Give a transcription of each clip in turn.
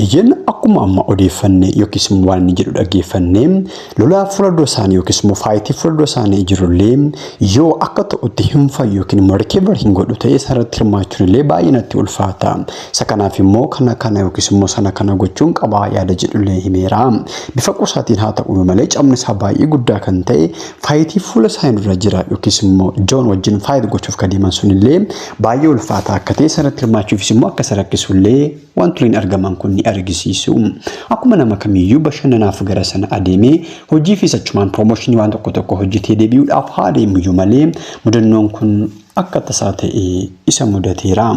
Eeyyeen akkuma amma odeeffanne yookiis immoo waan inni jedhu dhaggeeffanne lolaa fuula dura isaanii yookiis immoo faayitii fuula dura isaanii jirullee yoo akka ta'utti hin fayyu yookiin immoo rikeevar hin godhu ta'e isarratti hirmaachuun illee baay'ee natti ulfaata. Isa kanaaf immoo kana kana yookiis immoo sana kana gochuun qabaa yaada jedhullee himeera. Bifa qusaatiin haa ta'u malee cabni isaa baay'ee guddaa kan ta'e faayitii fuula isaanii dura jira yookiis immoo Joon wajjin faayit gochuuf kan deeman sunillee baay'ee ulfaataa akka ta'e isarratti hirmaachuufis immoo akka isa rakkisullee Wantoleen argaman kun ni argisiisu. Akkuma nama kamiyyuu bashannanaaf gara sana adeemee hojiifis achumaan promooshinii waan tokko tokko hojjetee deebi'uudhaaf haa deemuyyuu malee mudannoon kun akka tasaa ta'ee isa mudateera.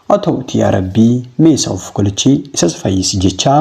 Haa ta'uutii yaa Rabbii mee isa of kolchi isas fayyisi jechaa